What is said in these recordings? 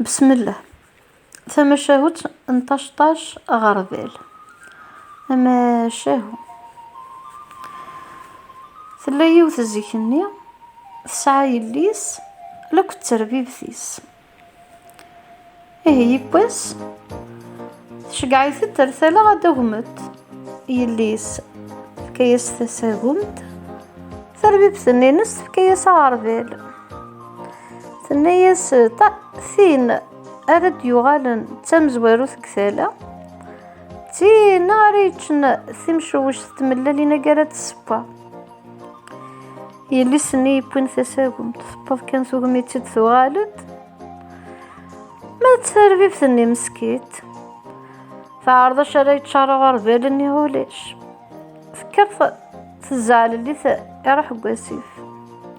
Besmelleh, tamacahut n taceṭṭac aɣerbal, amacahu. Tella yiwet zik-nni tesɛa yelli-s lakk d terbibt-is. Ihi yiwwas tceggeɛ-it-d ar tala ad d-agmet yelli-s tefka-yas tasagumt, tarbibt-nni-ines tefka-yas aɣerbal. Tenna-yas tin ara d-yuɣalen d tamezwarut deg tala, d tin ara yeččen timcewwect d tmellalin agi ara d-tessewwa. Yelli-s-nni yewwin tasagumt, tewweḍ kan tugmi-tt-id tuɣal-d. Ma d tarbibt-nni meskit, teɛreḍ acu ara yeččar uɣerbal-nni ulac. Tekker tezɛel-it iruḥ deg wasif.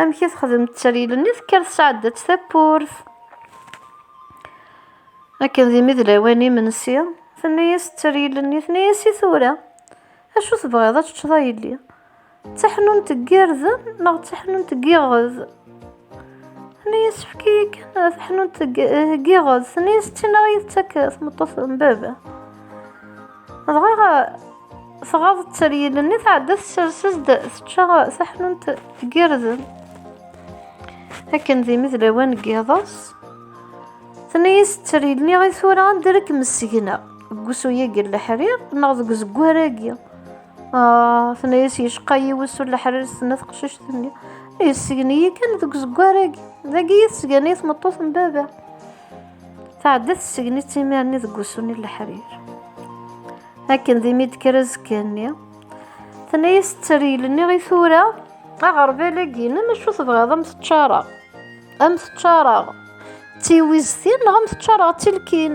amek i texdem tteryel-nni tekker tesɛedda-tt tawwurt akken d imi d lawan imensi tenna-yas tteryel-nni tenna-yas i tura acu tebɣiḍ ad teččeḍ a yelli d taḥnunt n yirden neɣ d taḥnunt n yiɣed Anayi yessefk-iyi kan taḥnunt n yiɣes, anayi s-ttinaɣ ara iyi-tettak tmeṭṭut n baba. Dɣa tɣaḍ tteryel-nni tɛedda tessers-as-d tečča taḥnunt n yirden. Akken d imi d lawan n yiḍes, tenna-as tteryel-nni i tura anda ara kem-ssegneɣ, deg wusu-agi n leḥrir neɣ deg uzeggar-agi. Ah, tenna-yas yecqa-yi wusu leḥrir s-tenna teqcict-nni. Yessgen-iyi kan deg uzeggar-agi. Dagi i tesgan-iyi tmeṭṭut n baba. Tɛedda tessgen-itt imir-nni deg wusu-nni leḥrir. Akken d imi d-kker azekka-nni. Tenna-yas tteryel-nni i tura aɣerbal-agi-inem acu tebɣiḍ am teččareɣ. Am teččareɣ d tiwiztin neɣ am teččareɣ d tilkin.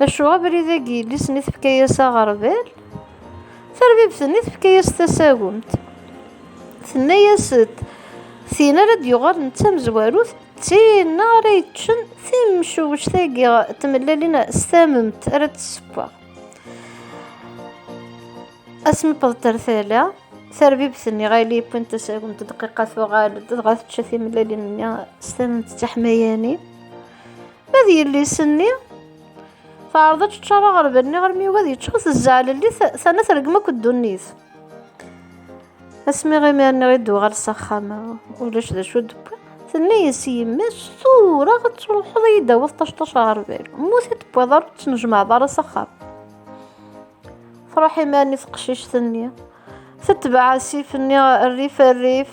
Acu abrid-agi yelli-s-nni tefka-yas aɣerbal, tarbibt-nni tefka-yas tasagumt. Tenna-yas-d, tin ara d-yuɣalen d tamezwarut, d tin ara yeččen timcuwect-agi tmellalin s tamemt ara d-tessewweɣ. Asmi wwḍent ar tala, tarbibt-nni ɣer yelli yewwin tasagumt dqiqa tuɣal-d, dɣa tečča timellalin-nni s tamemt d tiḥmayanin. Ma d yelli-s-nni, teɛreḍ ad teččar aɣerbal-nni armi yugi ad yeččur, tezzeɛlelli, terna tergem akk ddunit. Asmi imir-nni i d-uɣal s axxam, ulac d acu d-wwi. Tenna-yas i yemma-s, tura ad truḥeḍ ad yi-d-tawiḍ ṭac-ṭac aɣerbal. Mmut i d-tewwiḍ ara ur ttnejmaɛeḍ ara s axxam. Truḥ imir-nni teqcict-nni, tetbeɛ asif-nni rrif rrif,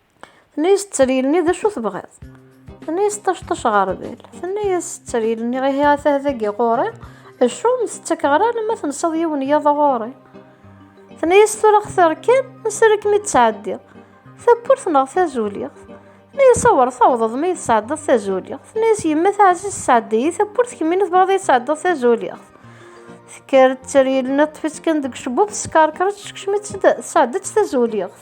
Tenna-yas tteryel-nni d acu tebɣiḍ? Tenna-yas ṭacṭac ɣerbal. Tenna-yas tteryel-nni ihi atah dagi ɣur-i, acu ur m-tettakeɣ ara alamma tensaḍ yiwen yiḍ ɣur-i? Tenna-yas tura xtir kan, asirri ad kem-id-ttɛeddiɣ. Tawwurt neɣ tazuliɣt? Tenna-yas awer tawḍeḍ ma yi-tesɛeddiḍ tazuliɣt. Tenna-yas yemma taɛzizt sɛeddi-yi tawwurt kemmini tebɣiḍ ad yi-tesɛeddiḍ tazuliɣt. Tekker tteryel-nni ṭṭef-itt kan deg ucebbub teskerker-itt tekcem-itt-d tesɛeddi-tt tazuliɣt.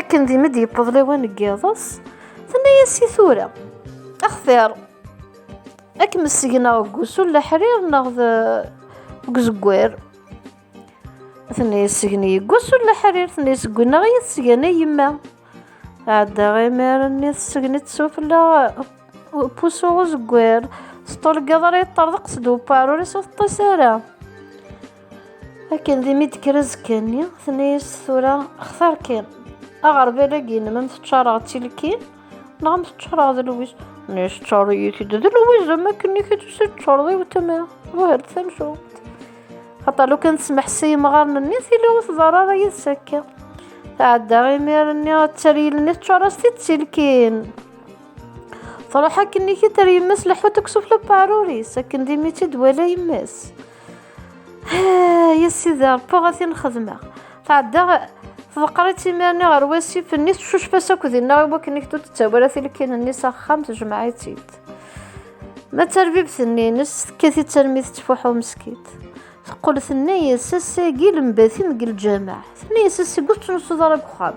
akken dima d-yewweḍ lawan n yiḍes tenna-yas i tura axtir ad kem-ssegneɣ deg usu n leḥrir neɣ deg uzeggar tenna-yas segni deg usu n leḥrir tenna-yas deg unneɣ i yi-tesgen a yemma ɛeddaɣ imir-nni tesgen-itt sufella pusu uzeggar teṭṭulgeḍ ara yeṭṭerḍeq-d uparur-is ur teṭṭis ara akken d imi d-kker azekka-nni tenna-yas tura xtar kan aɣerbal-agi nnem am teččareɣ d tilkin neɣ am teččareɣ d lwiz ne teččareḍ-iyi-t-id d lwiz am akken i k-id teččareḍ i wetma buhert tamcumt xaṭa lu kan tesmeḥ s yimɣaren-nni tili ur tḍar ara yid-s akka tɛedda imir-nni ad taryel-nni teččar-as-t-id d tilkin truḥ akken i k-id ar yemma-s leḥut deg usufella n weɛrur-is akken d imi tt-id wala yemma-s ya sidi rebbi ad tin xedmeɣ tɛeddaɣ tḍeqqer-itt imirni ɣer wasif-nni tcucef-as akk dinna i wakken iktu tettawala tilkin-nni s axxam tejmeɛ-itt-id ma d tarbibt-nni-ines tekkat-itt armi tettfuḥu meskit teqqel tenna-yas ass-agi lembat-im deg lǧameɛ tenna-yas ass-agi ur tettnusuḍ ara deg uxxam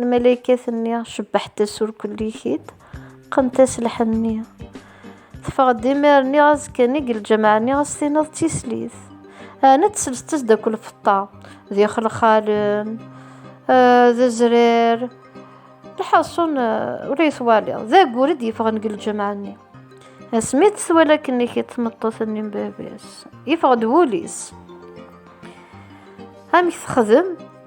Lmalaykat-nni cebbaḥet-as ur kullikit, qqent-as lḥenni. Teffeɣ-d imir-nni azekka-nni deg lǧameɛ-nni ad s-tiniḍ d tislit. Ɛni tselset-as d akk lfeṭṭa, d ixelxalen, eh, d zrir. Lḥaṣun eh, ula yettwaliḍ, d agur i d-yeffɣen deg lǧameɛ-nni. Asmi i t-twala akken i tmeṭṭut-nni n baba-s, yeffeɣ-d wul-is. Amek texdem?